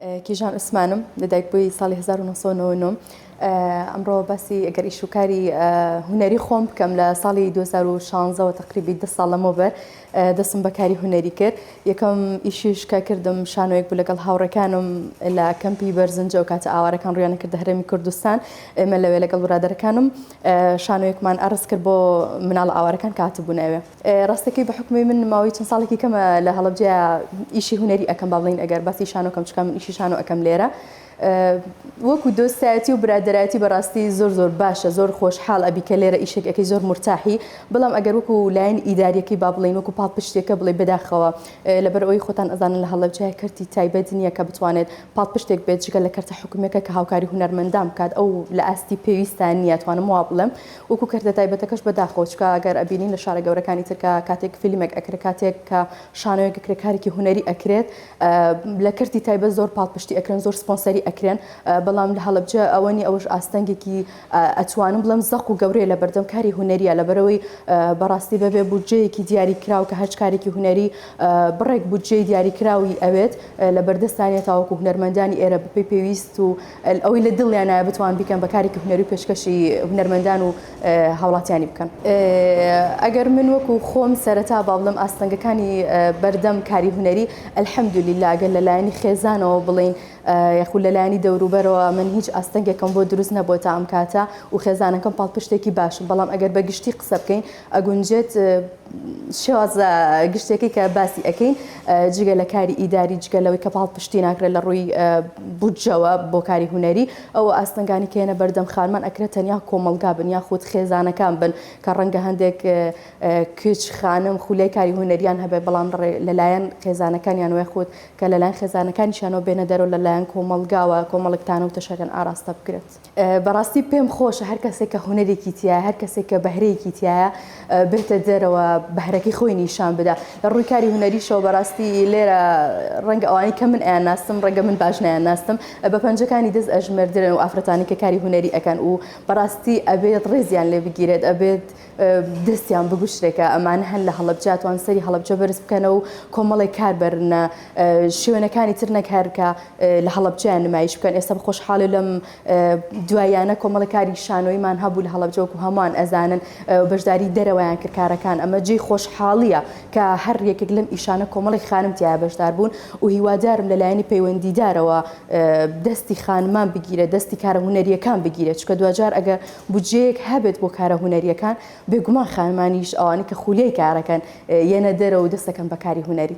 کیژان عوسمانم لە دایک بووی ساڵی هەزار و نۆ سەد و نەوەد و نۆ ئەمڕۆ باسی ئەگەر ئیش و کاری هونەری خۆم بکەم لە ساڵی دوو هەزار و شانزە وە تەقریبی دە ساڵ لەمەوبەر دەستم بە کاری هونەری کرد یەکەم ئیشیش کە کردم شانۆیەک بوو لەگەڵ هاوڕێکانم لە کەمپی بەرزنجە و کاتە ئاوارەکان ڕویانە کردە هەرێمی کوردستان ئێمە لەوێ لەگەڵ برادەرەکانم شانۆیەکمان عەڕض کرد بۆ مناڵە ئاوارەکان کە هاتبوونە ئەوێ ڕاستەکەی بە حوکمی من ماوەی چەند ساڵێکی کەمە لە هەڵەبجەیە ئیشی هونەری ئەکەم با بڵێین ئەگەر باسی شانۆ کەم چکە من ئیشی شانۆ ئەکەم لێرە وەکو دۆستایەتی و برادەرایەتی بەڕاستی زۆر زۆر باشە زۆر خۆشحاڵ ئەبی کە لێرە ئیشێک ئەەکەی زۆر مرتاحی بەڵام ئەگەر وەکو لایەن ئیداریەکەی با بڵین وەکو پاڵ پشتێکە بڵێ بەداخەوە لەبەر ئەوی خۆتان ئەزانن لە هەڵەبجەیە کەرتی تایبەت نییە کە بتوانێت پاڵ پشتێک بێت جگە لە کەرتە حکومەکە کە هاوکاری هونەرمەندان بکات ئەو لە ئاستی پێویستان نییە توانم وا بڵێم وەکو کەرتە تایبەتەکەش بەداخەوە چکە گەر ئەبینین لە شارە گەورەکانی تر کە کاتێک فیلمێک ئەکرێ کاتێک کە شانۆیەک ئەکرێ کارێکی هونەری ئەکرێت لە کەرتی تایبەت زۆر پاڵپشتی ئەکرێن زۆر سپۆنسەری ئەکرێن بەڵام لە هەڵەبجە ئەوە نیە ئەوەش ئاستەنگێکی ئەتوانم بڵێم زەق و گەورەیە لە بەردەم کاری هونەریە لەبەرەوەی بەڕاستی بەبێ بودجەیەکی دیاری کراو کە هەرچ کارێکی هونەری بڕێک بودجەی دیاری کراوی ئەوێت لە بەردەستانە تاوەکو هونەرمەندانی ئێرە بەپێی پێویست و ئەوەی لە دڵیانایە بتوان بیکەن بە کارێکی هونەری و پێشکەشی هونەرمەندان و هاوڵاتیانی بکەن ئەگەر من وەکو خۆم سەرەتا با بڵم ئاستەنگەکانی بەردەم کاری هونەری الحەمدللا گەر لەلایەنی خێزانەوە بڵین یخو لەلایەنی دەوروبەرەوە من هیچ ئاستەنگێکم بۆ دروست نەبووە تا ئەم کاتە و خێزانەکەم پاڵپشتێکی باشم بەڵام ئەگەر بە گشتی قسە بکەین ئەگونجێت شێوازە گشتیەکەی کە باسی ئەکەین جگە لە کاری ئیداری جگە لەوەی کە پاڵ پشتی ناکرێت لە ڕووی بودجەوە بۆ کاری هوەری ئەو ئاستنگانی کێنە بەردەم خانمان ئەکرێت تەنیا کۆمەلگا بن یا خودت خێزانەکان بن کە ڕەنگە هەندێک کچ خانم خولای کاری هوەریان هەبێ بەڵام لەلایەن خێزانەکانیان وێ خودت کە لەلایەن خێزانەکانیشانەوە بێنە دەرەوە لەلایەن کۆمەلگاوە کۆمەڵکتانە و تەشەکەن ئاراستە بکرێت. بەڕاستی پێم خۆشە هەر کەسێک کە هونەرێکی تایە هەر کەسێک کە بەهرەیەکی تایە بێتە دەرەوە بەهرەکەی خۆی نیشان بدا لە ڕووی کاری هونەریشەوە بەڕاستی لێرە ڕەنگ ئەوانی کە من ئەیان ناستم ڕەنگە من باشنیان ناستم بە پەنجەکانی دەست ئەژمردرن و ئافرەتانی کە کاری هونەری ئەەکەن و بەڕاستی ئەبێت ڕێزیان لێ بگیرێت ئەبێت دەستیان بگوشرێکە ئەمان هەن لە هەڵبجاتوان سەری هەڵبجە بەرز بکەنە و کۆمەڵی کار بەرنە شوێنەکانی تر نەکارکە لە هەڵبجیان نمایش بکەن ئێستا خۆشحاڵی لەم دوایانە کۆمەڵی کاری شانۆیمان هەبوو لە هەڵبجەوەکو هەمان ئەزانن بەشداری دەرەوەیان کردکارەکان ئەمە جێ خۆشحاڵیە کە هەر یەکێک لەم ئیشانە کۆمەڵی خانم تیا بەشدار بوون و هیوادارم لە لایەنی پەیوەندیدارەوە دەستی خانمان بگیرە دەستی کارە هوەریەکان بگیرێت چکە دوجار ئەگە بودجەیەک هەبێت بۆ کارە هونەرییەکان، بێگومان خانمانیش ئەوانەی کە خولیای کارەکەن یەنە دەرەوە و دەستەکەن بە کاری هونەری.